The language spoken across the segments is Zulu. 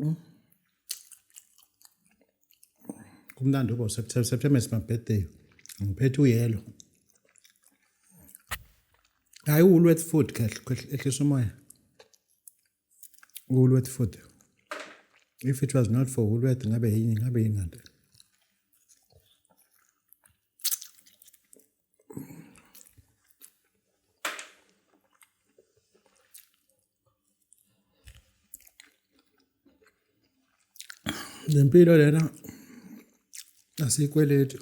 Mm. kumnandi ubo september september is my birthday ngiphethe uyelo hayi uwulweth food ehlisa umoya uwulweth food if it was not for ulweth ngabe yini ngabe yingante le mpilo lena asiyikweleti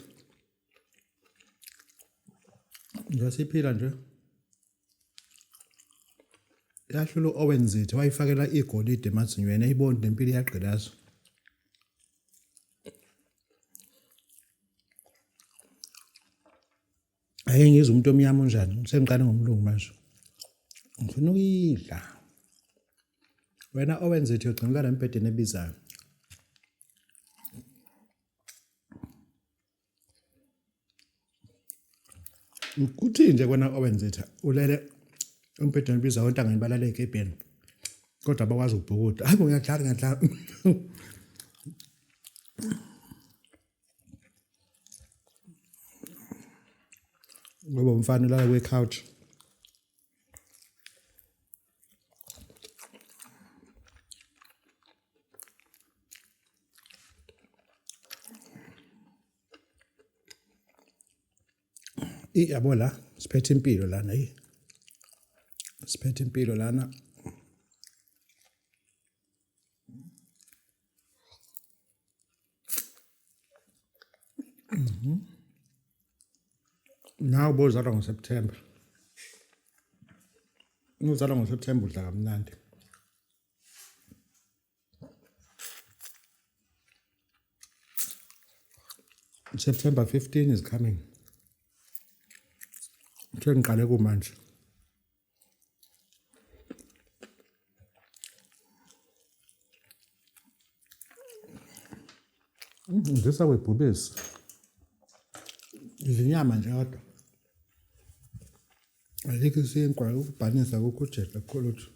nje siphila nje Lahlula u-Owen Zithe wayifakela igolide emazinyweni eyibona nempilo iyagqilaza. Ayi ngizwe umuntu omnyama unjani sengiqale ngomlungu manje. Ngifuna ukuyidla. Wena Owen Zithe ugcinukala embhedeni ebizayo. Kuthini nje kwena owenzitha ulele umbhedeni ubiza ontangeni balale egebheni kodwa bakwazi ukubhukuda hayi ngiyadlala ngiyadlala ngoba umfana ulala kwi-couch iyabo la siphethe impilo lana yi siphethe impilo lana Mhm. Nawu bozalwa ngoSeptember. Uzalwa ngoSeptember udla kamnandi. September 15 is coming. Kuthiwa ngiqale kumanje. Ndisa kwebhubesi. Izinyama nje kodwa. Alikho isinkwa ukubhanisa kukho ujeqa kholothu.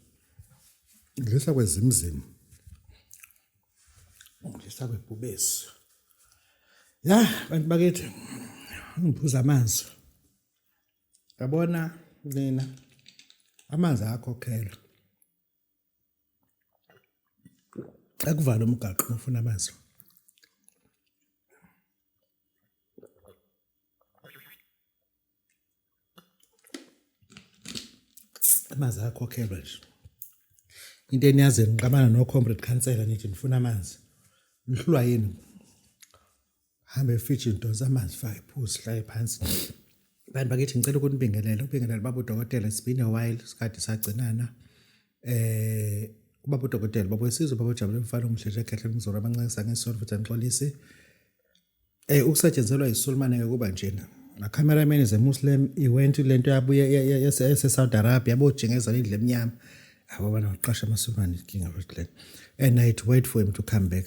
Ndisa kwezimzima. Ndisa kwebhubesi. Ya bantu bakithi ngiphuza amanzi. yabona mina amanzi ayakhokhelwa akuvala umgaqo ufuna amanzi amanzi ayakhokhelwa nje into eniyazi ngiqabana no-comrade khansela nithi nifuna amanzi nihlulwa yini hambe fridge ndonsa amanzi fake phuzi hlale phansi bantu bakithi ngicela ukunibingelela ubingelela baba udokotela it's been a while sikade sagcinana eh ubaba udokotela baba wesizwe baba ujabule mfana omuhle nje kahle ngizora abancisa ngesonto futhi ngixolise eh ukusetshenzelwa isulmane yokuba njena la cameraman is a muslim he went to lento yabuye yase Saudi Arabia yabojengezela indle emnyama abo bana uqasha amasulmane inkinga futhi le and i had to wait for him to come back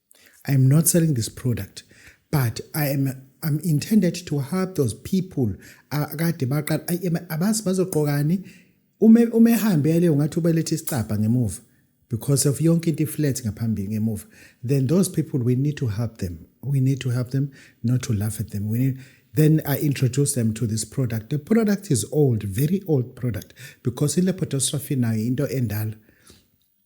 I am not selling this product but I am I'm intended to help those people akade baqala abazi bazoqokani uma uma ehambele ungathi ubelethe isicabha ngemuva because of yonke into iflat ngaphambili ngemuva then those people we need to help them we need to help them not to laugh at them we need then I introduce them to this product. The product is old, very old product, because in lepidostrophy now into endala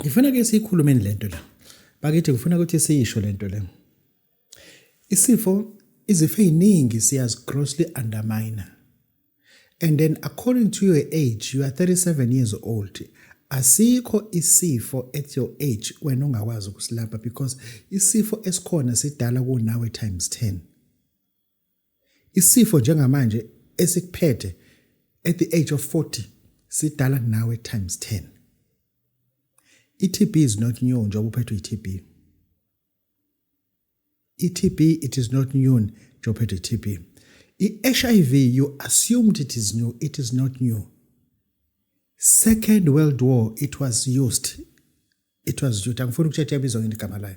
ngifuna ke siyikhulumeni lento la bakithi ngifuna ukuthi siyisho lento le isifo izifo eziningi siyazi grossly underminer and then according to your age you are 37 years old asikho isifo at your age wena ungakwazi ukusilapha because isifo esikhona sidala kunawe times 10 Isifo njengamanje esikuphethe at the age of 40 sidala kunawe times 10. I-TB is not new njengoba uphethwe i-TB. I-TB it is not new njengoba uphethwe i-TB. I-HIV you assumed it is new, it is not new. Second World War it was used. It was used. Angifuni ukutshetsha ibizo ngini igama layo.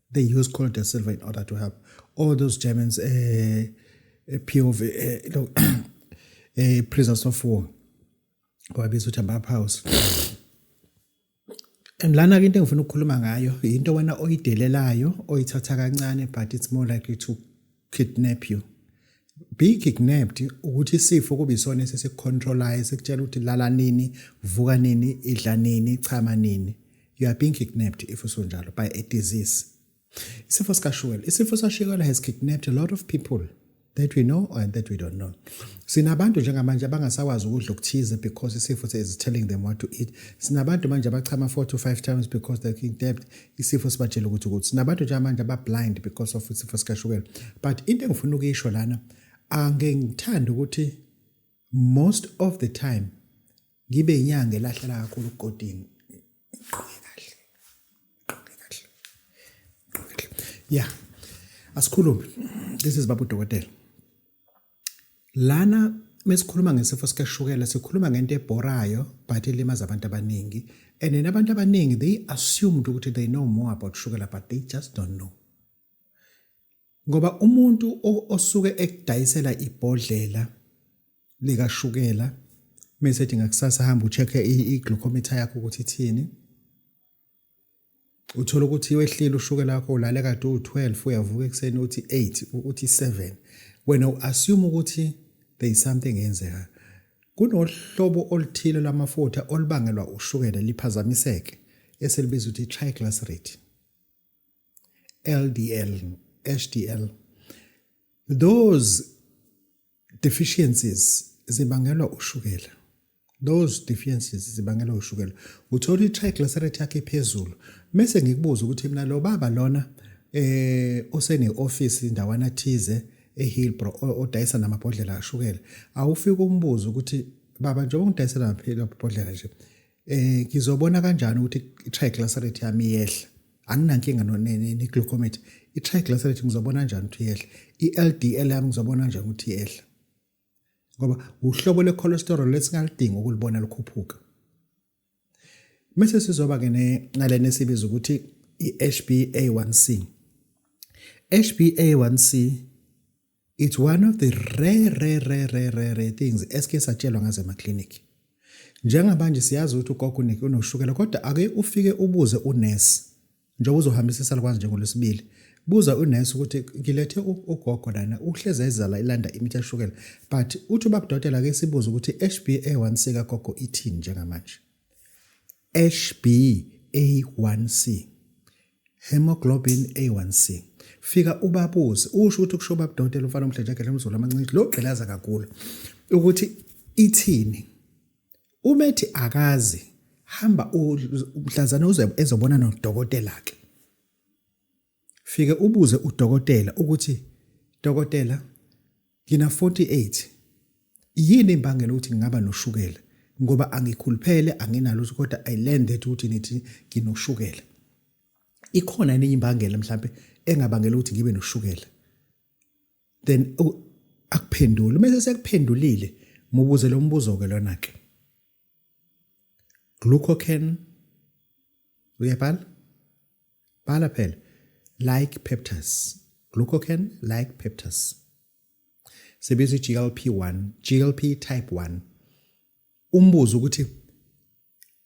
they use Colo da Silva in order to help. All those Germans, uh, eh, eh, POV, uh, no, uh, prisoners of war, wabiza ukuthi amap house and lana ke into engifuna ukukhuluma ngayo yinto wena oyidelelayo oyithatha kancane but it's more likely to kidnap you be kidnapped ukuthi isifo kube isona esesicontrolayo sekutshela ukuthi lala nini vuka nini idla nini chama nini you are being kidnapped if usunjalo by a disease isifo sikashukela isifo sashukela has kidnapped a lot of people that we know and that we don't know sinabantu njengamanje abangasakwazi ukudla okuthize because isifo is telling them what to eat sinabantu manje abachama 4 to 5 times because they kidnapped isifo sibatshela ukuthi ukuthi nabantu nje amanje abablind because of isifo sikashukela but into engifuna ukuyisho lana ange ngithanda ukuthi most of the time ngibe inyanga elahlela kakhulu ugodini iqoke kahle iqoke kahle iqoke kahle yeah asikhulume this is babu dokotela Lana mesikhuluma ngesifo sikashukela sikhuluma ngento ebhorayo but elimaza abantu abaningi and then abantu abaningi they assumed ukuthi they know more about shukela but they just don't know ngoba umuntu osuke ekudayisela ibhodlela likashukela mesethi ngakusasa hamba ucheck i-glucometer yakho ukuthi ithini uthole ukuthi wehlile ushukela wakho ulale kade uwu-12 uyavuka ekuseni uthi 8 uthi 7 wena u-assume ukuthi there is something eyenzekayo kunohlobo oluthile lwamafutha olubangelwa ushukela liphazamiseke esilibiza ukuthi triglyceride LDL HDL those deficiencies zibangelwa ushukela those deficiencies zibangelwa ushukela uthola i-triglyceride yakhe phezulu mese ngikubuza ukuthi mina lo baba lona eh osene-office indawana thize ehillbro odayisa namabhodlela ashukela awufike umbuze ukuthi baba njengoba ngidayisela amabhodlela nje eh ngizobona kanjani ukuthi i-triglyceride yami iyehla anginankinga ne-glucometer i-triglyceride ngizobona kanjani ukuthi iyehla i-LDL yami ngizobona kanjani ukuthi iyehla ngoba uhlobo le-cholesterol lesingalidingi ukulibona lukhuphuka mese sizoba ke nalena esibiza ukuthi i-HbA1c HbA1c It's one of the rare rare rare rare rare, rare things esike satshelwa ngaze ma clinic. Njengabanje siyazi ukuthi ugogo unike unoshukela kodwa ake ufike ubuze unurse njengoba uzohambisa isalukwazi njengolwesibili. Buza unurse ukuthi ngilethe ugogo lana uhleze ezala ilanda imithi yashukela but uthi ubabudokotela ke sibuze ukuthi HbA1c kagogo ithini njengamanje. HbA1c Hemoglobin A1C. Fika ubabuze usho ukuthi kusho baba dokotela umfana omhlenjagela umzulu amancinci lo gqilaza kakhulu ukuthi ithini. Uma ethi akazi hamba umhlazana uze ezobona nodokotela ke. Fike ubuze udokotela ukuthi dokotela Ngina 48. Yini imbangela ukuthi ngingaba noshukela? Ngoba angikhuluphele anginalo ukuthi kodwa I learned that ukuthi nithi nginoshukela. Ikhona enye imbangela mhlambe engabangela ukuthi ngibe noshukela. Then akuphendule. Mase sekuphendulile mubuze lo mbuzo ke lona ke. Glucocan uyabhala? bhala phela like peptase glucocan like peptase sebiza i-glp-1 glp type 1 umbuzo ukuthi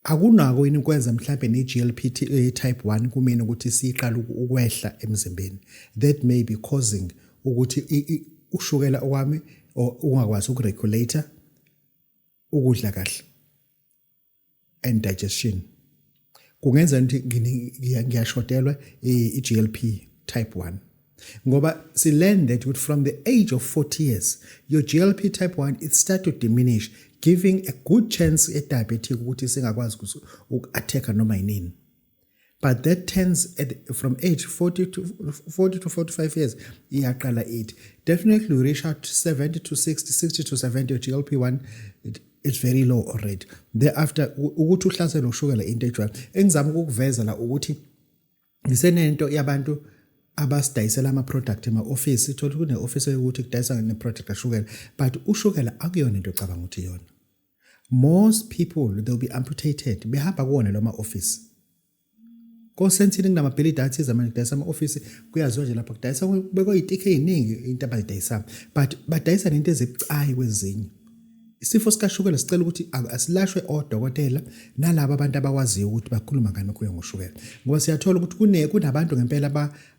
akunako yini ukwenza mhlawumbe ne-glp eh, type 1 kumina ukuthi siyiqala ukwehla emzimbeni that may be causing ukuthi ushukela okwami ungakwazi ukuregulator ukudla kahle and digestion kungenza ukuthi ngiyashodelwa i-GLP type 1 ngoba si learn that with from the age of 40 years your GLP type 1 it start to diminish giving a good chance e diabetic ukuthi singakwazi uku attack noma yini but that turns at, from age 40 to 40 to 45 years iyaqala ithi definitely we reach out to 70 to 60 60 to 70 glp1 it, it's very low already thereafter ukuthi uhlaselo ushukela into ejwayo engizama ukukuveza la ukuthi ngisenento yabantu abasidayisela ama-product ema-ofisi thola kune-ofisi yokuthi kudayisa ne-product kashukela but ushukela akuyona into ocabanga ukuthi iyona Most people they'll be amputated behamba kuwona loma office. Kosensini kunamabhilidi athize manje kudayisa ama-ofisi kuyaziwa nje lapha kudayisa kubekwa itikhe eyiningi into abayidayisayo but badayisa nento ezibucayi kwezinye isifo sikashukela sicela ukuthi asilashwe odokotela nalabo abantu abakwaziyo ukuthi bakhuluma ngani kuyo ngoshukela ngoba siyathola ukuthi kune kunabantu ngempela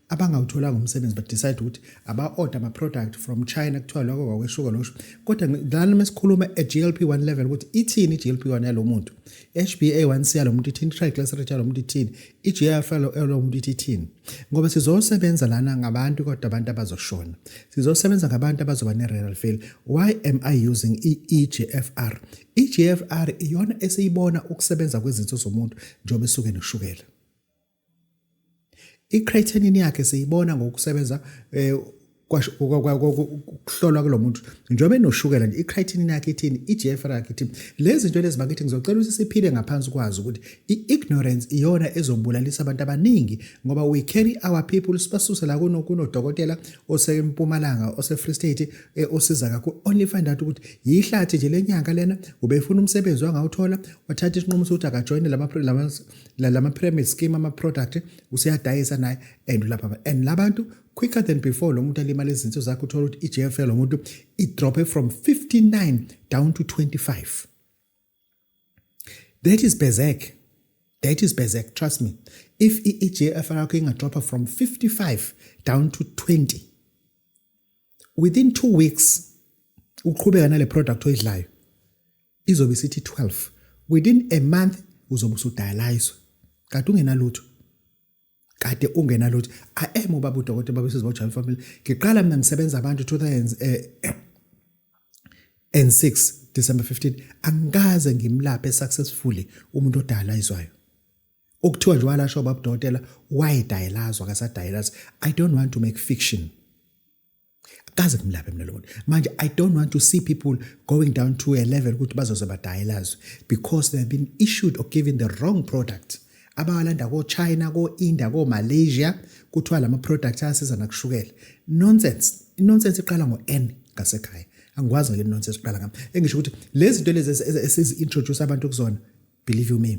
abangawutholanga umsebenzi but decide ukuthi aba-order ama-product from china kuthiwa lokho kwakweshuka losho kodwa lana uma sikhuluma e-glp1 level ukuthi ithini i-glp1 yalo muntu hba1c yalo muntu ithini i-triglycerate yalo muntu ithini i-gf yalo muntu ithi ithini ngoba sizosebenza lana ngabantu kodwa abantu abazoshona sizosebenza ngabantu abazoba ne-renal fail why am i using i-egfr i-egfr iyona esiyibona ukusebenza kwezinso zomuntu njengoba esuke noshukela I-creatinine yakhe siyibona ngokusebenza eh, kuhlolwa kulo muntu njengoba enoshukela nje i-creatinine yakhe ithini i-GFR yakhe ithini lezi zinto lezi bakithi ngizocela ukuthi siphile ngaphansi kwazo ukuthi i-ignorance iyona ezobulalisa abantu abaningi ngoba we carry our people sibasuse la kunodokotela osempumalanga ose-free state eh, osiza kakhulu only find out ukuthi yihlathi nje le nyanga lena ubefuna umsebenzi wangawuthola wathatha isinqumo sokuthi akajoyine la lama pyramid scheme ama product useyadayisa naye and lapha and labantu quicker than before lo muntu alimala izinto zakhe uthola ukuthi iJFL lo muntu i drop from 59 down to 25 that is bezek that is bezek trust me if iJFL yakho inga drop from 55 down to 20 within 2 weeks uqhubeka nale product oyidlayo izobe isithi 12 within a month uzobe usudayaliswa kade ungenalutho kade ungenalutho i am ubaba udokotela baba sisi bojayela family ngiqala mina ngisebenza abantu 2000 eh, and 6 December 15 angikaze ngimlaphe successfully umuntu odayaliswayo okuthiwa nje walasho babudokotela wayedayelazwa akasadayelazi i don't want to make fiction kaze kumlaphe mina lobona manje i don't want to see people going down to a level ukuthi bazoze badayelazwe because they have been issued or given the wrong product abawalanda ko-china ko-india ko-malaysia kuthiwa lama products ayasiza nakushukela nonsense inonsense iqala ngo-n ngasekhaya angikwazi ngale nonsense iqala ngami engisho ukuthi lezi zinto lezi esizi-introduce abantu kuzona believe you me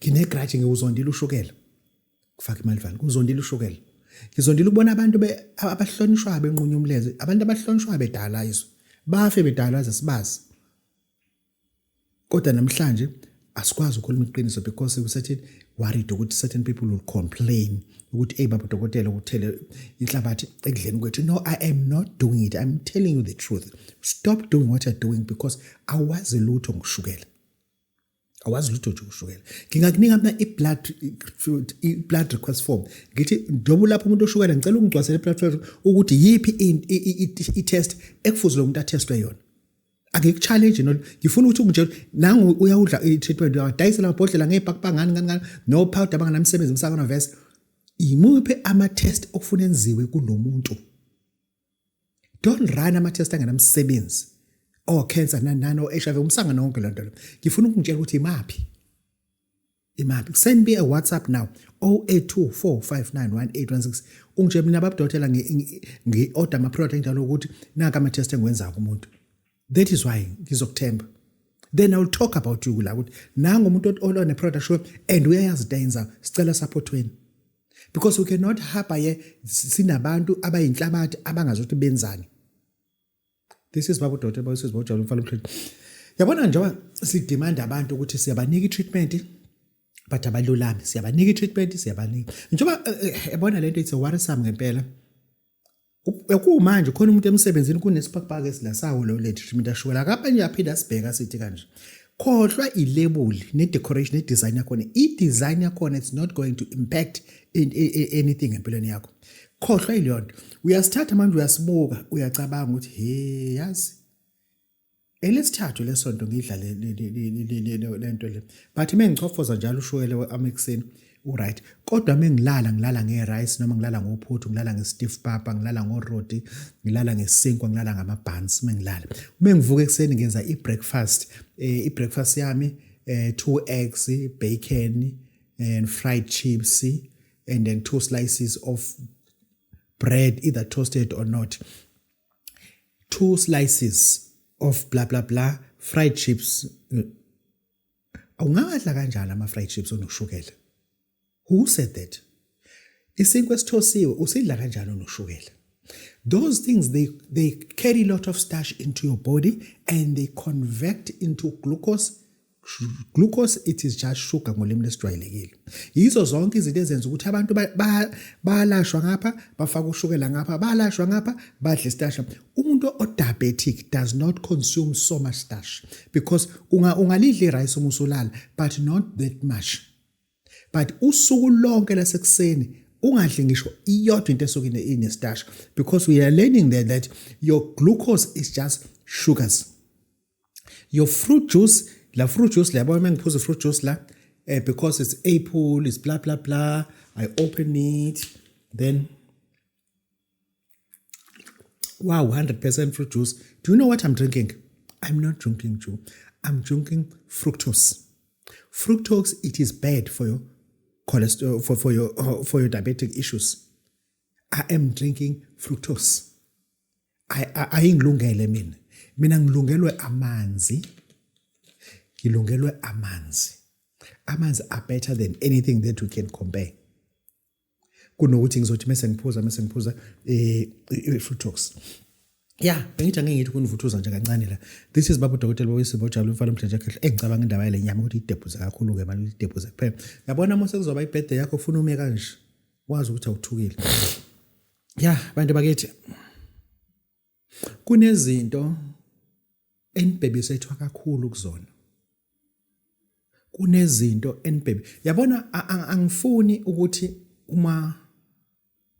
nginegrudge ngiwuzondile ushukela kufaka imalivani ngizondile ushukela ngizondile ukubona abantu abahlonishwayo benqunywa umlenze abantu abahlonishwayo bedala izwe bafe bedala zesibazi kodwa namhlanje asikwazi ukukhuluma iqiniso because we certain worried ukuthi certain people will complain ukuthi hey baba dokotela ukuthele inhlabathi ekudleni kwethu no i am not doing it i'm telling you the truth stop doing what you're doing because awazi lutho ngoshukela awazi lutho nje ushukela ngingakunika mina i-blood i-blood request form ngithi njengoba ulapha umuntu oshukela ngicela ungigcwasele i-blood request ukuthi yiphi i-test ekufuze lo muntu athestwe yona angikuchallenge nol ngifuna ukuthi unje nangu uyawudla i-treatment uyadayisela amabhodlela ngey'pakupangani ngani ngani no-powder abanganamsebenzi emsakana vese yimuphi ama-test okufuna enziwe kulo muntu don't run ama test angenamsebenzi oh cancer nanani o HIV umsanga nonke lo nto lo ngifuna ukungitshela ukuthi imaphi imaphi send me a whatsapp now 0824591816 ungitshela mina babudokotela ngi order ama product njalo ukuthi naka ama test engiwenza kumuntu that is why ngizokuthemba then i will talk about you la ukuthi nangu umuntu olone product show and uyayazi into ayenzayo sicela support wenu because we cannot hapa ye sinabantu abayinhlabathi abangazi ukuthi benzani this is babu dothe babu sisi bojalo mfana umhleli yabona njengoba sidimanda abantu ukuthi siyabanika i-treatment but abalulami siyabanika i-treatment siyabanika njengoba eh, eh, yabona le nto it's a worrisome ngempela Kumanje khona umuntu emsebenzini kunesibhakabhaka esilasawo lo lady treatment ashukela akaphenye aphinde asibheka sithi kanje khohlwa ilebuli ne-decoration ne-design yakhona i-design yakhona it's not going to impact in, in, in anything empilweni yakho khohlwa ileyo nto uyasithatha manje uyasibuka uyacabanga ukuthi he yazi elesithathu lesonto ngidlale lento le but uma ngichofoza njalo ushukela we-amexin uright kodwa uma ngilala ngilala nge-rice noma ngilala ngophuthu ngilala nge-stiff papa ngilala ngoroti ngilala ngesinkwa ngilala ngamabhansi uma ngilala uma ngivuka ekuseni ngenza i-breakfast um i-breakfast yami um two eggs bacon and fried chips and then two slices of bread either toasted or not two slices of blah blah blah fried chips awungawadla kanjalo ama fried chips onoshukela who said that isinkwa esithosiwe usidla kanjalo noshukela those things they they carry a lot of starch into your body and they convert into glucose Glucose it is just sugar ngolimi lesijwayelekile. Yizo zonke izinto ezenza ukuthi abantu bayalashwa ngapha, bafaka ushukela ngapha, bayalashwa ngapha, badle istasha. Umuntu o-diabetic does not consume so much starch because ungalidla i-rice uma usulala but not that much. But usuku lonke lasekuseni ungadli ngisho iyodwa into esuke inestarch because we are learning there that your glucose is just sugars. your fruit juice la fruit juice la yabona mengiphuza fruit juice la eh, because it's apple it's blah blah blah i open it then wow 100% fruit juice do you know what i'm drinking i'm not drinking juice i'm drinking fructose fructose it is bad for your cholesterol for, for your uh, for your diabetic issues i am drinking fructose ayingilungele mina mina ngilungelwe amanzi ngilungelwe amanzi amanzi are better than anything that we can compare kunokuthi ngizothi mese ngiphuza mese ngiphuza eh, i-fruitox ya bengithi angeke ngithi kunivuthuza nje kancane la this is baba udokotela bawisibo ojabule umfana omdlenja khehle engicabanga indaba yale nyama ukuthi idebhuze kakhulu-ke mali idebhuze kuphela yabona uma sekuzoba ibhede yakho ufuna ume kanje wazi ukuthi awuthukile ya bantu bakithi kunezinto enibhebisethwa kakhulu kuzona kunezinto enibhebe yabona angifuni ukuthi uma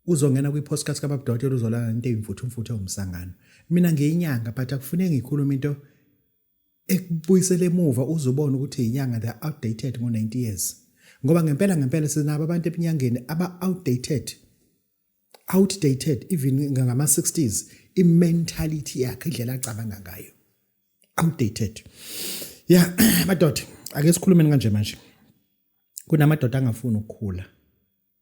uzongena kwi-podcast kababudokotela uzolala into eyimfuthu mfuthu ewumsangano mina ngiyinyanga but akufuneki ngikhulume into ekubuyisela emuva uzobona ukuthi inyanga they outdated ngo 90 years ngoba ngempela ngempela sinabo abantu ebinyangeni aba outdated outdated even ngama 60s i mentality yakhe indlela acabanga ngayo outdated ya madoda ake sikhulumeni kanje manje kunamadoda angafuni ukukhula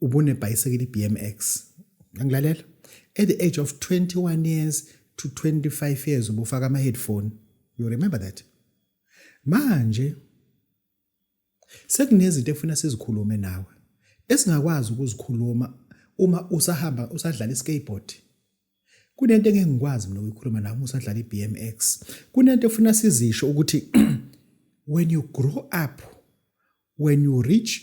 ubunebhayisekile iBMX ngilalela at the age of 21 years to 25 years ubufaka ama headphone you remember that manje sekunezinto efuna sizikhulume nawe esingakwazi ukuzikhuluma uma usahamba usadlala iskateboard kunento engeke ngikwazi mina ukuyikhuluma nawe usadlala iBMX kunento efuna sizisho ukuthi when you grow up when you reach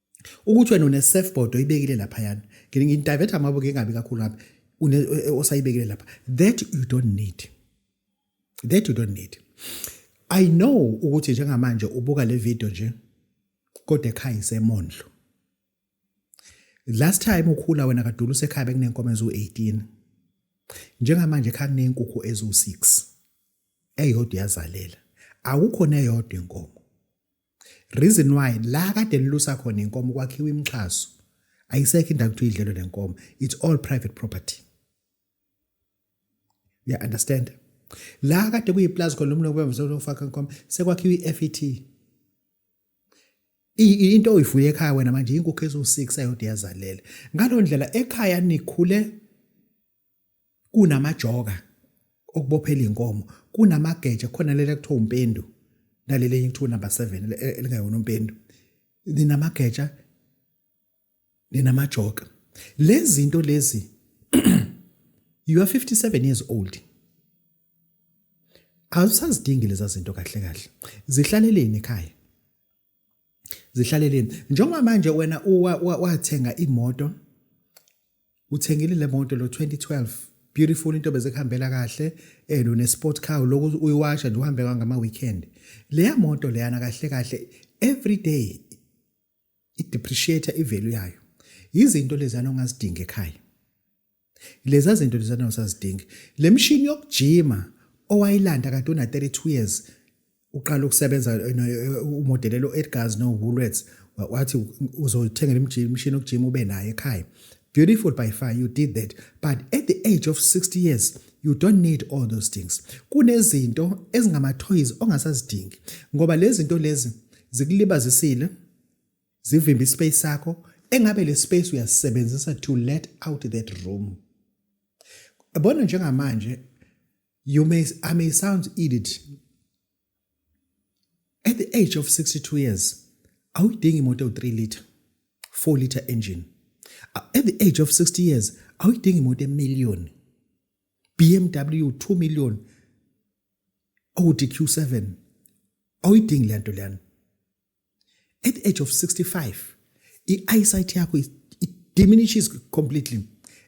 ukuthi wena une surfboard oyibekile lapha yana ngidivert amabuke engabi kakhulu ngabe une e, e, osayibekile lapha that you don't need that you don't need i know ukuthi njengamanje ubuka le video nje kodwa ekhaya isemondlo last time ukhula wena kadulu usekhaya bekunenkomo ezu-18 njengamanje ekhaya kuney'nkukhu eziwu-6 eyodwa iyazalela akukho neyodwa inkomo reason why la kade lilusa khona inkomo kwakhiwa imixhaso ayisekho indawo ukuthi idlelo lenkomo it's all private property ya yeah, understand la kade kuyiplaza khona umuntu obemvuze ukufaka inkomo sekwakhiwa i-FET into oyifuye ekhaya wena manje inkukhu eziwu-6 ayode yazalela ngalo ndlela ekhaya nikhule kunamajoka okubophela inkomo kunamageja khona lele kuthiwa umpendu naleli enye kuthiwa number 7 e, elingayona umpendu ninamageja ninamajoka lezi zinto lezi you are 57 years old awusazidingi lezi zinto kahle kahle zihlaleleni ekhaya zihlaleleni njengoba manje wena wathenga imoto uthengile le moto lo 2012 beautiful into beze kuhambela kahle and une sport car lokhu uyiwasha nje uhambe ngama weekend leya moto leyana kahle kahle every day i depreciate i value yayo izinto lezana ongazidinga ekhaya Leza zinto lezana usazidingi. Le mshini yokujima owayilanda kade una 32 years uqala ukusebenza eh, eh, umodelelo Edgars no Woolworths wathi uzothengela imishini yokujima ube naye ekhaya. Beautiful by far you did that but at the age of 60 years you don't need all those things kunezinto ezingama toys ongasazidingi ngoba lezi zinto lezi zikulibazisile zivimbe ispace sakho engabe le space uyasebenzisa to let out that room yabona njengamanje you may i may sound idiot at the age of 62 years awuyidingi imoto ewu-3 liter 4 liter engine at the age of 60 years awuyidingi imoto emillion bmw 2 million owuthi q7 awuyidingi le nto leyana at the age of 65 i-eyesight yakho it diminishes completely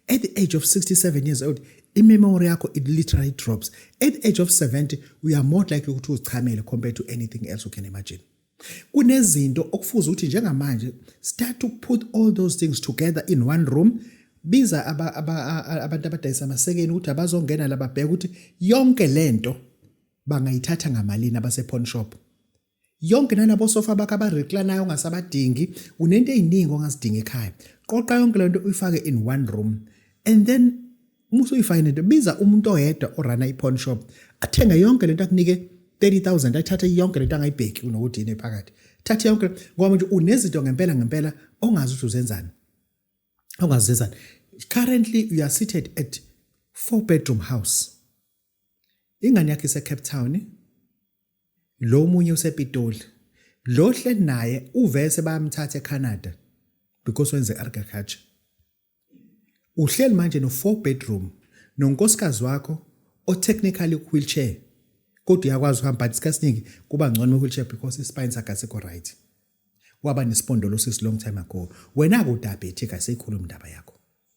at the age of 67 years old imemory yakho it literally drops at the age of 70 we are more likely ukuthi uzichamele compared to anything else you can imagine kunezinto okufuza ukuthi njengamanje start to put all those things together in one room biza abantu abadayisa amasekeni ukuthi abazongena lababheka ukuthi yonke lento bangayithatha ngamalini abase pawn shop yonke nalabo sofa bakho abareklanayo ongasabadingi unento eziningi ongazidinga ekhaya qoqa yonke lento uyifake in one room and then uma usuyifake nento biza umuntu oyedwa orana i-pawn shop athenge yonke lento akunike 30000 ayithathe yonke lento angayibheki unokuthi yini phakathi thatha yonke ngoba manje unezinto ngempela ngempela ongazi ukuthi uzenzani ongazizani currently you are seated at four bedroom house Ingane yakhe iseCape Town. Lo munye usePitoli. Lo hle naye uvese bayamthatha eCanada because wenze agriculture. Uhleli manje no four bedroom nonkosikazi wakho o technically wheelchair kodwa uyakwazi ukuhamba but sikasiningi kuba ngcono wheelchair because ispine sakhe asikho right. Waba nesipondolo sis long time ago. Wena kudabhethi kaseyikhuluma indaba yakho.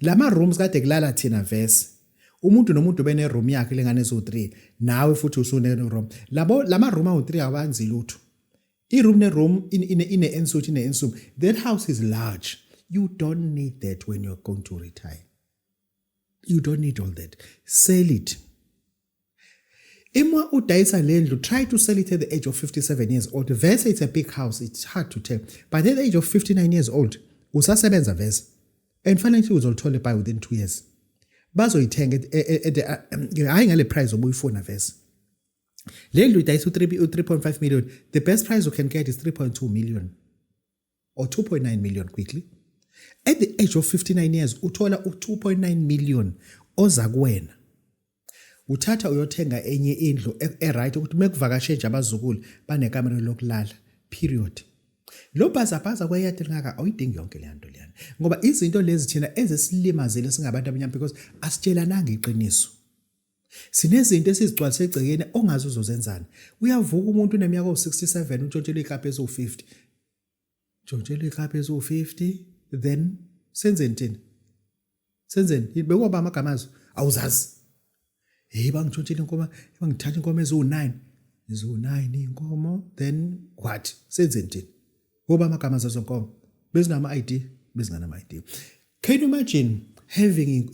lama rooms kade kulala thina vese umuntu nomuntu bene room yakhe lengane eziwu-3 nawe futhi usune room labo lama room awu-3 awanzi lutho i-room ne-room ine-ensuit ine-ensuit that house is large you don't need that when you're going to retire you don't need all that sell it Ima udayisa le ndlu, try to sell it at the age of 57 years old. Vese it's a big house, it's hard to tell. But at the age of 59 years old, usasebenza vese. And financially uzolithola ibuy within 2 years. Bazoyithenga hayi ngale price obuyifuna vese. Le ndlu idayisa u-3.5 million. The best price you can get is 3.2 million. or 2.9 million quickly at the age of 59 years uthola u2.9 million oza kuwena uthatha uyothenga enye indlu eright ukuthi mekuvakashe nje abazukulu banekamera lokulala period lo bhazabhaza kweyadi lingaka awuyidingi yonke le nto leyana ngoba izinto lezi thina ezisilimazile singabantu abanyama because asitshelananga iqiniso Sinezinto esizigcwalise egcekeni ongazi uzozenzani. Uyavuka umuntu uneminyaka ewu-67 untshontshelwe iklabhu eziwu-50. Ntshontshelwe iklabhu eziwu-50 then senzeni thina? Senzeni? Bekuwaba amagama azo awuzazi. Hey bangitshontshela inkomo, bangithatha inkomo eziwu-9. Eziwu-9 inkomo then what? Senzeni thina? Woba amagama zezo nkomo. Bezinama ID, bezinganama ID. Can you imagine having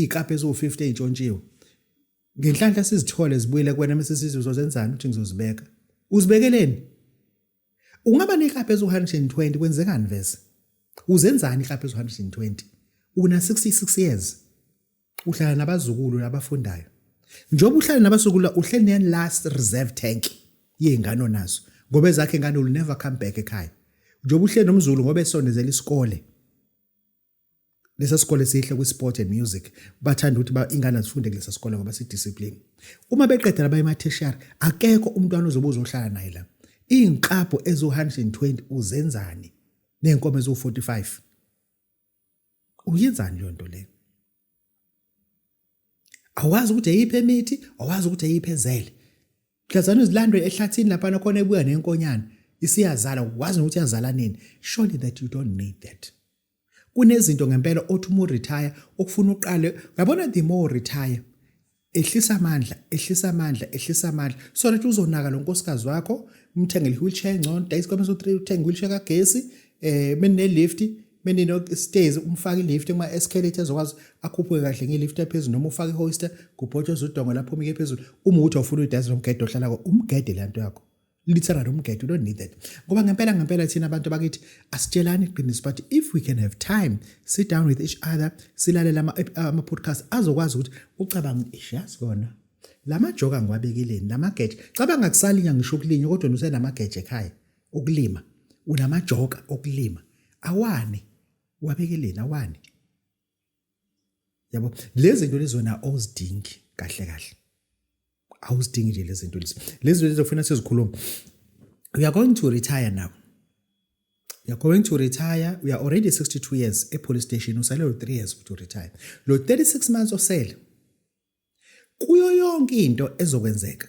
ikape eziwu-50 ey'ntshontshiwe ngenhlanhla sizithole zibuyele kuwena mese sithi uzozenzani ukuthi ngizozibeka uzibekeleni ungaba nekape eziwu-120 kwenzekani vese uzenzani ikape eziwu-120 una-66 years uhlala nabazukulu abafundayo njengoba uhlala nabazukulu uhleli ne last reserve tank yezingane onazo ngoba ezakhe ngane will never come back ekhaya njengoba uhleli nomzulu ngoba esondezela isikole lesa sikole sihle kwi-sport and music bathanda ukuthi ba ingane zifunde kulesa sikole ngoba sidiscipline uma beqedela baye ematheshiyari akekho umntwana ozobe uzohlala naye la iy'nqabho eziwu-120 uzenzani ney'nkomo eziwu-45 uyenzani leyo nto leyo awazi ukuthi eyiphi emithi awazi ukuthi eyiphi ezele hlazana izilandwe ehlathini lapha nakhona ebuya nenkonyane isiyazala wazi ukuthi yazala nini surely that you don't need that kunezinto ngempela othi uma uretire okufuna uqale ngabona the more retire ehlisa amandla ehlisa amandla ehlisa amandla so that uzonaka lo nkosikazi wakho umthengele i-wheelchair engcono dayisa kwamese u-three uthenge i-wheelchair kagesi um eh, benine-lift benino-stairs umfake i-lift kuma-escalate ezokwazi akhuphuke kahle nge-lift ephezulu noma ufake i-hoister kubhotshoza udongo lapho umike phezulu uma ukuthi awufuna uyidayisa lomgede ohlala ko umgede le nto yakho literally umgede you don't need that ngoba ngempela ngempela thina abantu bakithi asitshelani iqiniso but if we can have time sit down with each other silalela ama-podcast azokwazi ukuthi ucabanga ish yazi kona la majoka ngiwabekeleni la mageje cabanga kusalinya ngisho ukulinywa kodwa nusenamageje ekhaya ukulima unamajoka okulima awani wabekeleni awani yabo lezi zinto lezi wena awuzidingi kahle kahle awuzidingi nje lezi zinto lezi lezi zinto lezi kufanele sizikhuluma we are going to retire now you're going to retire we are already 62 years epolice station usale lo 3 years ukuthi uretire lo 36 months osele kuyo yonke into ezokwenzeka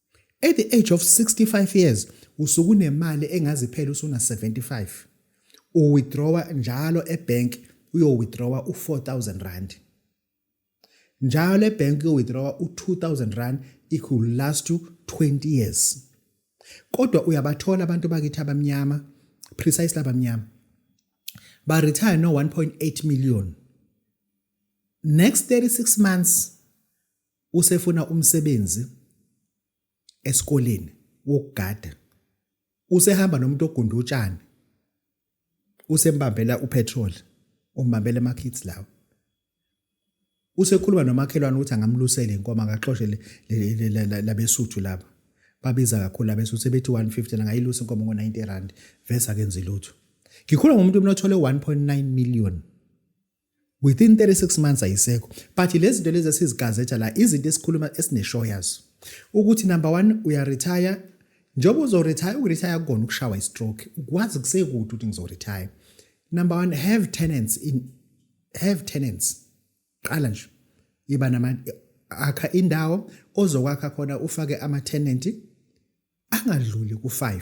At the age of 65 years usukunemali engazi phela usuna 75. U withdrawer njalo ebank uyo withdrawer u 4000 rand. Njalo ebank uyo withdrawer u 2000 rand it could last you 20 years. Kodwa uyabathola abantu bakithi abamnyama precisely abamnyama. Ba retire no 1.8 million. Next 36 months usefuna umsebenzi esikoleni wokugada usehamba nomuntu ogunda utshani usembambela upetrol umbambela ama-kids lawo usekhuluma nomakhelwane ukuthi angamlusele inkomo akaxoshe labesuthu laba babiza kakhulu labesuthu sebethi 150 angayilusa inkomo ngo-90 rand vese akenzi lutho ngikhuluma ngomuntu umnothole 1.9 million within 36 months ayisekho but lezi zinto lezi esizigazetha la izinto esikhuluma esineshow yazo ukuthi number 1 uyaretire njengoba uzoretire ukuretire kukona ukushawa istroke ukwazi kusekude ukuthi ngizoretire number 1 have tenants in have tenants qala nje iba nama akha indawo ozokwakha khona ufake ama tenant angadluli ku5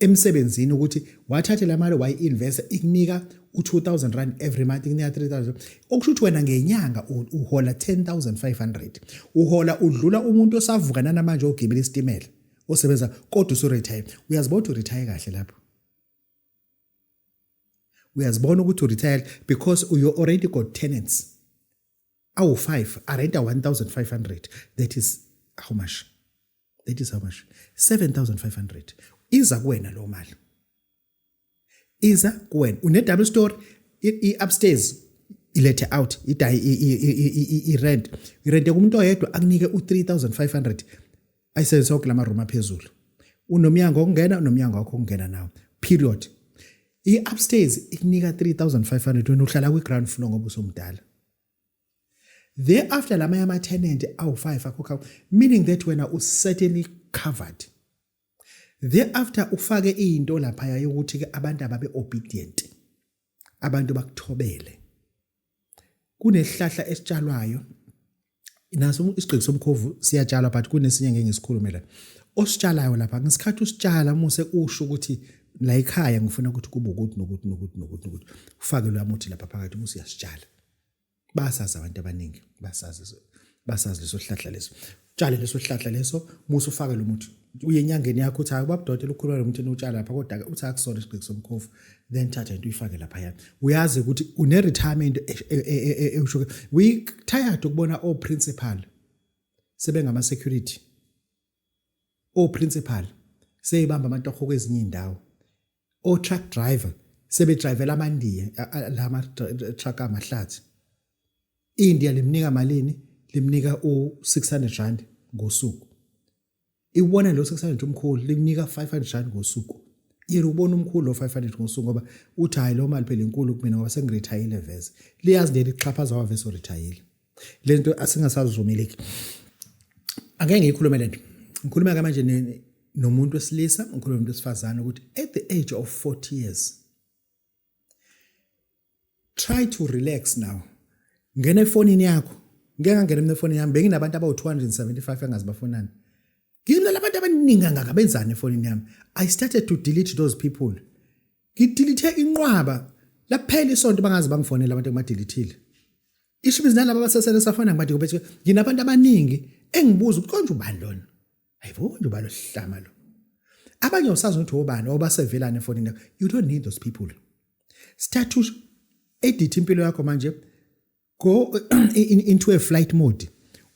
emsebenzini ukuthi wathathe la mali wayi-investa ikunika u-2000 rand every month ikunika 3000 okusho ukuthi wena ngenyanga uhola 10500 uhola udlula umuntu osavuka nanamanje ogibela isitimela osebenza kodwa usuretire uyazibona ukuthi uretire kahle lapho uyazibona ukuthi uretire because you already got tenants awu-5 arenta 1500 that is how much that is how much 7500 iza kuwena lo mali iza kuwena une double story i upstairs ilethe out idayi i rent i rent kumuntu oyedwa akunike u 3500 ayisenze sonke lama room aphezulu unomyango okungena unomyango wakho okungena nawo period i upstairs ikunika 3500 wena uhlala kwi ground floor ngoba usomdala thereafter la manye ama-tenant awu-five akhokha meaning that wena u-certainly covered thereafter ufake into laphaya yokuthi-ke abantu ababe obedient abantu bakuthobele kunesihlahla esitshalwayo naso isigqiki somkhovu siyatshalwa but kunesinye ngeke ngisikhulume la ositshalayo lapha ngesikhathi usitshala muse usho ukuthi la ekhaya ngifuna ukuthi kube ukuthi nokuthi nokuthi nokuthi nokuthi ufakelwe amuthi lapha phakathi muse uyasitshala basazi abantu abaningi basazi basazi leso sihlahla leso tshale leso sihlahla leso musa ufake lo muthi uye enyangeni yakho uthi hayi ubabudoti lukhulu lo muthi utshala lapha kodwa uthi akusona isiqiki somkhofu then thatha into uyifake lapha yana uyazi ukuthi une retirement ewusho we tired ukubona o principal sebengama security o principal seyibamba amantoho kwezinye indawo o truck driver sebedrivela amandiya lama truck amahlathi iIndia limnika malini limnika u600 rand ngosuku iwona lo 600 umkhulu limnika 500 rand ngosuku yena ubona umkhulu lo 500 ngosuku ngoba uthi hayi lo mali phela inkulu kumina ngoba sengirethayile veze liyazi leli xhaphaza wavese uritayile lento asingasazivumeleki ake ngiyikhulume lento ngikhuluma ke manje nomuntu wesilisa ngikhuluma umuntu wesifazane ukuthi at the age of 40 years try to relax now ngena efonini yakho ngeke ngangena mina efonini yami benginabantu abawu 275 engazibafonani You know labantu abaningi kangaka benzani efonini yami. I started to delete those people. Ngidelete inqwaba laphela isonto bangazi bangifonela abantu engibadelethile. Isho ibizi nalabo abasesele safana ngibathi kubethe nginabantu abaningi engibuza ukuthi konje ubani lona. Hayibo konje ubani osihlama lo. Abanye usazi ukuthi obani obasevelana efonini yakho. You don't need those people. Start to edit impilo yakho manje go in, into a flight mode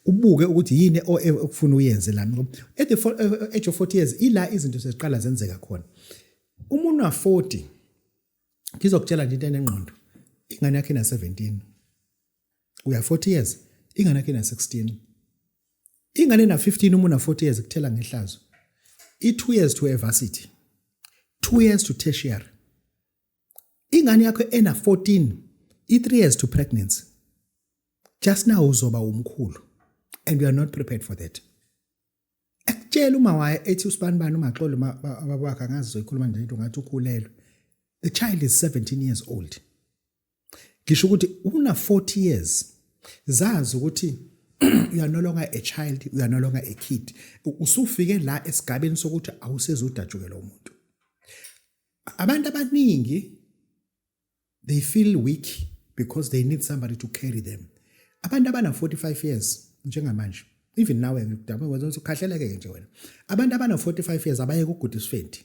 ubuke ukuthi yini okufuna uyenze lana ngoba at the eh, eh, age of 40 years ila izinto seziqala zenzeka khona umuntu wa 40 ngizokutshela nje into enengqondo ingane yakhe na 17 uya 40 years ingane yakhe na 16 ingane na 15 umuntu na 40 years kuthela ngehlazo i 2 years to a varsity 2 years to tertiary ingane yakho ena 14 i3 years to pregnancy just now uzoba umkhulu and we are not prepared for that ekutshela uma waye ethi usibani bani umaxolo ababakhe angazi zoyikhuluma nje into ngathi ukhulelwe the child is 17 years old ngisho ukuthi una 40 years zazi ukuthi you are no longer a child you are no longer a kid usufike la esigabeni sokuthi awusezudatshukelwa umuntu abantu abaningi they feel weak because they need somebody to carry them abantu abana 45 years njengamanje even nawe ngikudaba wenza ukuthi ukhahleleke nje wena abantu abana 45 years abaye kuguda isifendi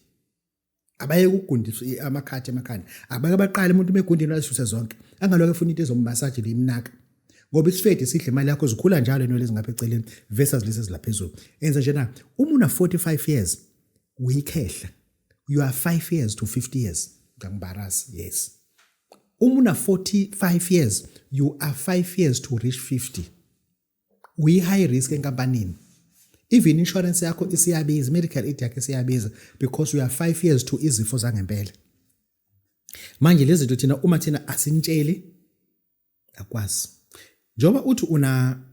abaye kugundisa amakhathi emakhanda abake baqala umuntu begundini wayisuse zonke angaloke efuna into ezommasaje limnaka ngoba isifedi sidle imali yakho zikhula njalo inwele ezingapha eceleni versus lezi ezilaphezulu enza njena uma una 45 years uyikhehla you are 5 years to 50 years ngangibarazi yes uma una 45 years you are 5 years to reach 50 uyi high risk enkampanini even insurance yakho isiyabiza medical aid yakho isiyabiza because you are 5 years to izifo zangempela manje lezi zinto thina uma thina asintsheli akwazi njengoba uthi una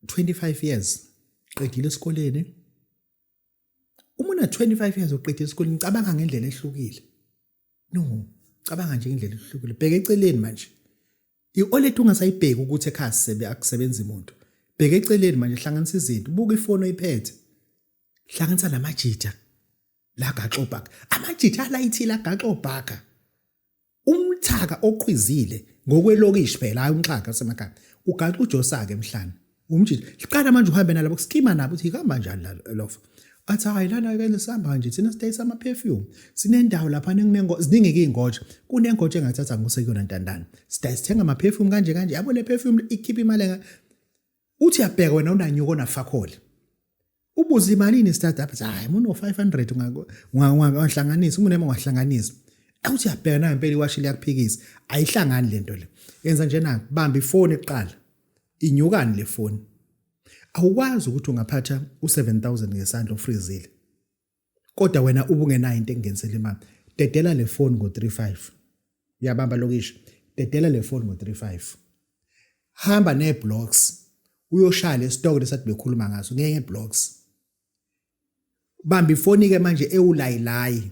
25 years qedile esikoleni uma una 25 years uqede isikole ngicabanga ngendlela ehlukile no cabanga nje indlela ehlukile bheka eceleni manje iolet ungasayibheki ukuthi ekhaya sebe akusebenza imuntu bheka eceleni manje hlanganisa izinto buka ifoni oyiphethe hlanganisa namajitha la gaxobhaka amajitha alayithile agaxobhaka umthaka oqhwizile ngokwelokishi phela hayi umxhaka osemakhaya ugaxa ujosake emhlane umjiji siqala manje uhambe nalabo kusikima nabo ukuthi ihamba njani lofa athi hayi lana ke sihamba nje thina sidayisa ama perfume sinendawo lapha ninengo ziningi izingoja kunengoja engathatha ngose kuyona ntandana sidayisa sithenga ama perfume kanje kanje yabo le perfume ikhipha imali uthi yabheka wena unanyuko onafakhole ubuze imalini startup hayi muno 500 ungahlanganisa umuntu ema ungahlanganisa awuthi yabheka na impela iwashi liyakuphikisa ayihlangani lento le yenza njena bamba ifoni kuqala inyukani le foni awukwazi ukuthi ungaphatha u7000 ngesandla ofrizile Kodwa wena ubungenayo into engingenisela imali. Dedela le phone ngo-35. Uyabamba lokishi. Dedela le phone ngo-35. Hamba ne-blocks. Uyoshaya le stock lesathi bekhuluma ngaso ngeke blocks. Bamba ifoni ke manje ewulayilayi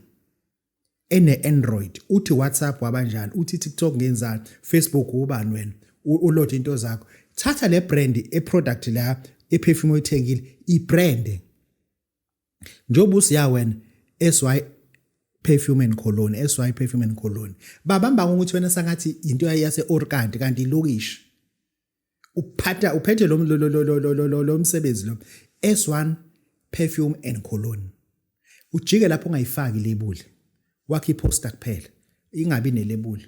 ene-Android uthi WhatsApp wabanjani uthi TikTok ngenzani Facebook ubani wena uload into zakho thatha le brand e-product la e-perfume oyithengile i-brand njengoba usiya wena SY perfume and cologne SY perfume and cologne babamba ukuthi wena sangathi into yase Orkant kanti ilokishi uphatha uphethe lo lo msebenzi lo S1 perfume and cologne ujike lapho ungayifaki lebuli wakhe iposter kuphela ingabi nelebuli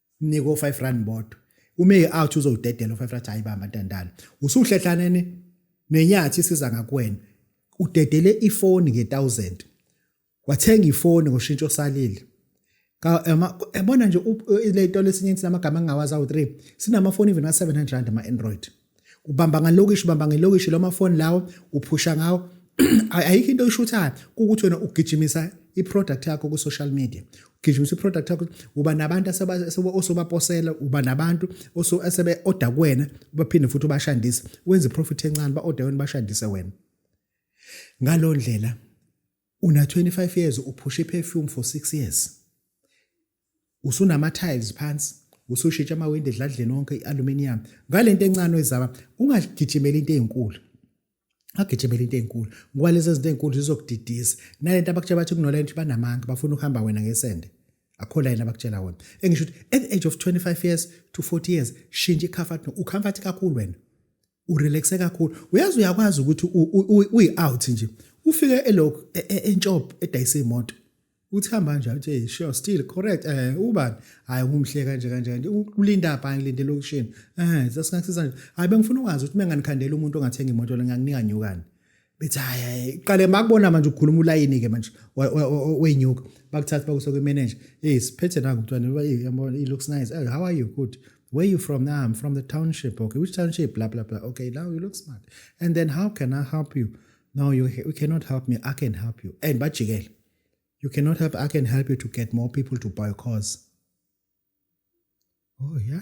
mnike o-five rand bodwa uma e-out uzowudedela o-five rand hayi bamba ntandane usuhlehlanene nenyathi isiza ngakuwena udedele ifoni nge-thousand wathenga ifoni ngoshintsho osalile yabona nje le tolo esinye sinamagama angingawazi awu-three sinamafoni even a-seven hundred rand ama-android ubamba ngalokishi ubamba ngelokishi lo mafoni lawo uphusha ngawo ayikho into oyishuthayo kukuthi wena ugijimisa i-product yakho ku-social media ugijimisa i-product yakho uba nabantu osobaposela uba nabantu asebe-oda kuwena baphinde futhi ubashandise wenze iprofit encane ba-oda wena bashandise wena ngalo ndlela una-25 years uphusha i-perfume for 6 years usunama-tiles phansi usushitsha amawindi edladleni onke i-aluminium ngale nto encane oyizama ungagijimeli into ey'nkulu agijimela into ey'nkulu ngoba lezi zinto ey'nkulu zizokudidisa nale nto abakutshela bathi kunola nto banamanga bafuna ukuhamba wena ngesende akho la yena abakutshela wona engisho ukuthi at the age of 25 years to 40 years shintsha i-comfort ucomfort kakhulu wena urelaxe kakhulu uyazi uyakwazi ukuthi uyi out nje ufike elokhu e, e, entshop edayise imoto uthi hamba nje uthi hey sure still correct eh ubani hayi umhle kanje kanje kanje ulinda pha ngilinde lokushini eh sasingakisiza nje hayi bengifuna ukwazi ukuthi menganikhandela umuntu ongathenga imoto lengakunika nyukani bethi hayi hayi qale makubona manje ukhuluma ulayini ke manje wenyuka bakuthatha bakuso kwi manager hey siphethe nangu mntwana yabona it looks nice hey, how are you good where you from now i'm from the township okay which township blah blah blah okay now you look smart and then how can i help you no you, you cannot help me i can help you and bajikele you cannot help i can help you to get more people to buy cars oh yeah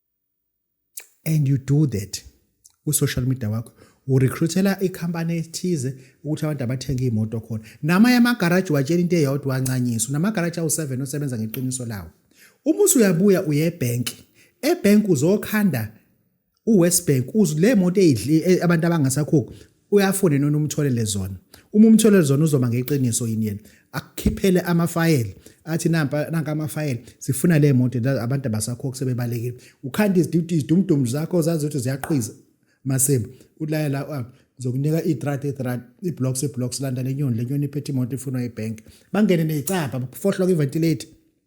and you do that ku social media wakho urecruitela ikhampani ethize ukuthi abantu abathenge imoto khona namanye amagaraji watshela into eyodwa ancanyiso namagaraji awu7 osebenza ngeqiniso lawo uma usuyabuya uye ebank ebank uzokhanda uWest Bank uzile moto eyidli e, abantu abangasakhokhi uyafuna yini umtholele zona uma umtholele zona uzoba ngeqiniso yini yena akukhiphele amafayeli athi nampa nanka amafayeli sifuna le moto abantu abasakhokho sebebalekile ukhanda iziduty izidumdum zakho zazi ukuthi ziyaqhiza masimba ulaya la ah, ngizokunika i-drat i-drat i-blocks i-blocks landa le nyoni le nyoni iphethe imoto ifunwa ibank bangene neyicabha fohloka iventilator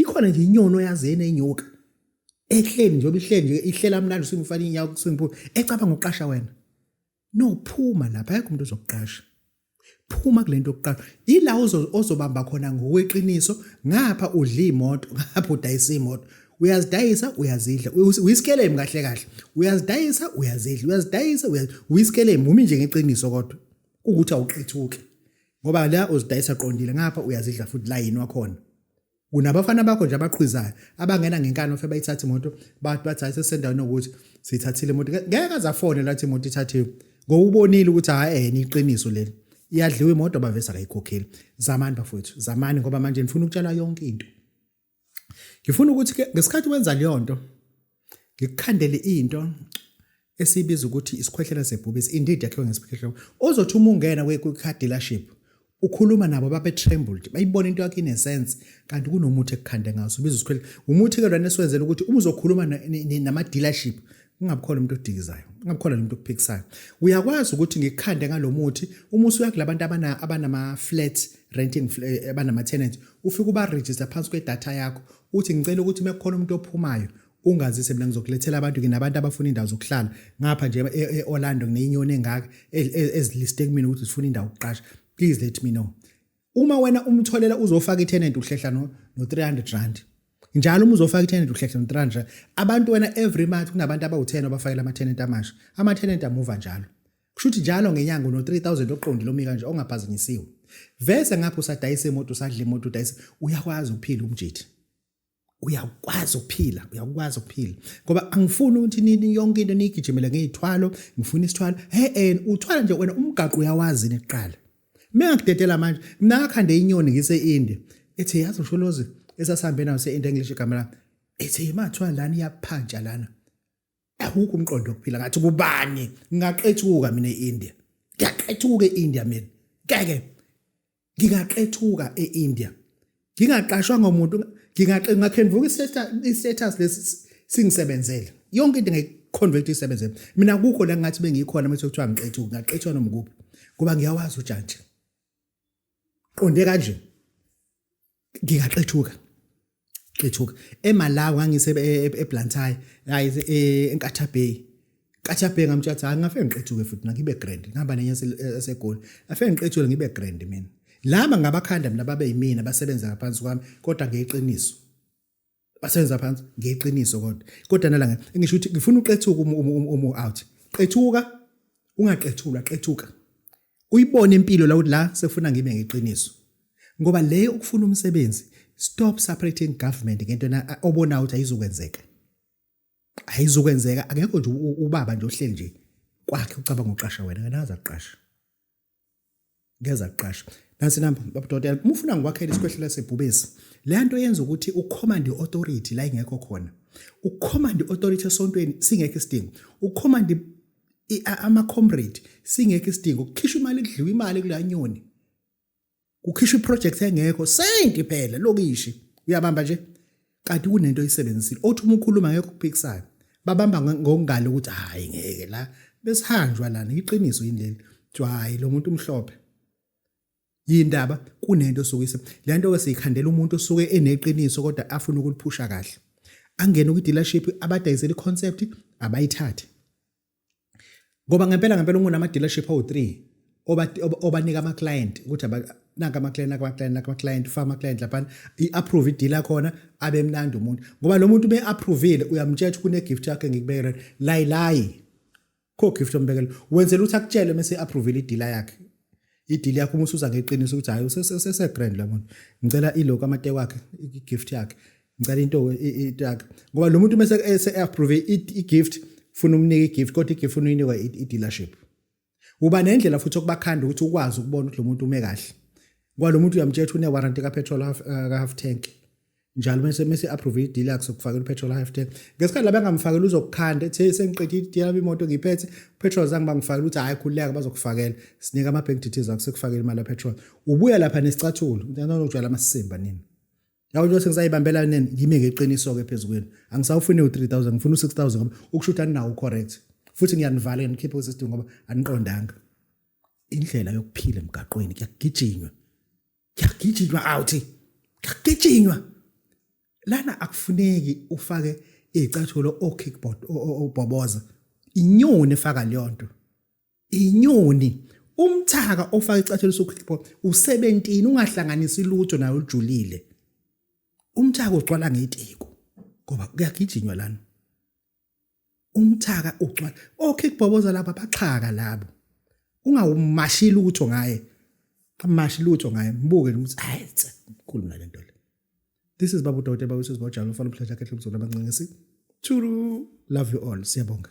ikhona nje inyoni oyazi enenyoka ehleli nje obihleli nje ihlela mlando simfana inyawo kusimphula ecabanga uqasha wena no phuma lapha ayikho umuntu ozokuqasha phuma kulento yokuqasha ila ozobamba khona ngokweqiniso ngapha udla imoto ngapha udayisa imoto uyazidayisa uyazidla uyisikelemu kahle kahle uyazidayisa uyazidla uyazidayisa uyisikelemu umi nje ngeqiniso kodwa ukuthi awuqithuki ngoba la uzidayisa qondile ngapha uyazidla futhi la yini wakhona kunabafana bakho nje abaqhwizayo abangena ngenkani ofe bayithatha imoto bathi bathi hayi sesendaweni yokuthi sithathile imoto ngeke azafone lathi imoto ithathiwe ngoba ubonile ukuthi hayi ehena iqiniso leli iyadliwa imoto bavese akayikhokheli zamani bafowethu zamani ngoba manje nifuna ukutshala yonke into ngifuna ukuthi ke ngesikhathi wenza leyo nto ngikukhandele into esibiza ukuthi isikhwehlela sebhubesi indeed yakhiwe ngesikhwehlela ozothi uma ungena kwi-car dealership ukhuluma nabo babe trembled bayibona into yakhe ine sense kanti kunomuthi ekukhande ngaso ubiza isikhwehlela umuthi ke lona esiwenzela ukuthi uma uzokhuluma nama dealership ungabukhola umuntu odikizayo ungabukhola nomuntu okuphikisayo uyakwazi ukuthi ngikhande ngalomuthi uma usuya kulabantu abana abanama flat renting eh, abanama tenants ufike uba register phansi kwe data yakho uthi ngicela ukuthi mekukhona umuntu ophumayo ungazise mina ngizokulethela abantu nginabantu abafuna indawo zokuhlala ngapha nje e, e, e-Orlando ngineyinyoni engaka e, eziliste kumina ukuthi zifuna indawo ukuqasha please let me know uma wena umtholela uzofaka itenant uhlehla no no 300 rand njalo uma uzofaka itenant uhlehla no 300 rand abantu wena every month kunabantu abawu10 abafakela ama tenant amasha ama tenant amuva njalo kusho ukuthi njalo ngenyanga no 3000 oqondile omi kanje ongaphazanyisiwe vese ngapha usadayisa imoto usadla imoto udayisa uyakwazi ukuphila umjitha uyakwazi ukuphila uyakwazi ukuphila ngoba angifuni ukuthi nini yonke into niyigijimele ngeyithwalo ngifuna isithwalo he en uthwala nje wena umgaqo uyawazi niqala mina ngidedela manje mina ngakhanda inyoni ngise India ethi yazi usholozi esasihambe nayo se India English igama lami ethi imathwa lana iyaphanja lana awukho umqondo wokuphila ngathi kubani ngaqethuka mina eIndia ngiyaqethuka eIndia mina ngeke ngingaqethuka e-India ngingaqashwa ngomuntu ngingaqengakhenvuka i-status lesi singisebenzele yonke into ngiconvert isebenze mina kukho la ngathi bengikhona mase kuthiwa ngiqethuka ngaqethwa noma kuphi ngoba ngiyawazi ujantshi qonde kanje ngingaqethuka qethuka eMalawi ngangise eBlantyre hayi eNkatha Bay Katha Bay ngamtshela ukuthi angafike ngiqethuke futhi ngibe grand ngihamba nenye esegoli afike ngiqethule ngibe grand mina laba ngabakhanda mina babe yimina basebenza ngaphansi kwami kodwa ngeqiniso basenza phansi ngeqiniso kodwa kodwa nalanga ngisho ukuthi ngifuna uqethuka umu umu umu umu out qethuka ungaqethulwa qethuka uyibone impilo la ukuthi la sekufuna ngibe ngeqiniso ngoba le ukufuna umsebenzi stop separating government ngento na obona ukuthi ayizokwenzeka ayizokwenzeka akekho nje ubaba nje ohleli nje kwakhe ucabanga uqasha wena nganaza kuqasha ngeza kuqasha nansi namba babudokotela uma ufuna ngikwakhela isikhwehlela sebhubesi le nto yenza ukuthi ucommand authority la ingekho khona ucommand authority esontweni singekho isidingo ucommand ama comrade singekho isidingo ukukhishwa imali kudliwa imali kulanyoni kukhishwa iproject engekho senti phela lokishi uyabamba nje kanti kunento oyisebenzisile othi uma ukhuluma ngeke ukuphikisayo babamba ngongalo ukuthi hayi ngeke la besihanjwa lana iqiniso yini leli kuthiwa hayi lo muntu umhlophe yindaba kunento sokuyise le nto ke siyikhandela umuntu osuke eneqiniso kodwa afuna ukuliphusha kahle angene kwi-dealership abadayisela i-concept abayithathe ngoba ngempela ngempela ungunama dealership awu 3 oba obanika ama client ukuthi naka ama client naka ama client naka ama client ufaka ama client lapha i approve i dealer khona abe mnandi umuntu ngoba lo muntu be approvile uyamtshela kune gift yakhe ngikubekela layi layi kho gift ombekela wenzela ukuthi akutshele mase approvile i dealer yakhe idili yakho uma usuza ngeqiniso ukuthi hayi usesegrand la muntu ngicela iloko amate wakhe i-gift yakhe ngicela into into yakhe ngoba lo muntu uma ese-approve i-gift funa umnike i-gift kodwa i-gift funa uyinikwa i-dealership uba nendlela futhi okubakhanda ukuthi ukwazi ukubona ukuthi lo muntu ume kahle ngoba lo muntu uyamtshela ukuthi une-warranty kapetrol ka-half eh, tank njalo mese mese approve ideal yakhe sokufakela upetrol half tank ngesikhathi laba ngamfakela uzokukhanda ethe sengiqedile ideal yami imoto ngiphethe petrol zangi bangifakela ukuthi hayi khuleka bazokufakela sinika ama bank details akho sekufakela imali petrol ubuya lapha nesicathulo uthanda ukujwala amasimba nini yawo nje sengisayibambela nini ngime ngeqiniso ke phezukweni angisawufuni u3000 ngifuna u6000 ngoba ukushutha ninawo correct futhi ngiyanivala nginikhiphe usisdu ngoba aniqondanga indlela yokuphila emgaqweni kuyagijinywa kuyagijinywa out kuyagijinywa lana akufuneki ufake izicathulo o kickboard obhoboza inyoni efaka leyo nto inyoni umthaka ofaka icathulo so kickboard u17 ungahlanganisi lutho nayo ujulile umthaka ugcwala ngetiko ngoba kuyagijinywa lana umthaka ugcwala okhikubhoboza laba baxhaka labo ungawumashi lutho ngaye amashi lutho ngaye mbuke ukuthi hayi mkhulu nale nto le this is babu dote babu sisi bojalo ufana umhlaja khehle umzulu abancincisi churu love you all siyabonga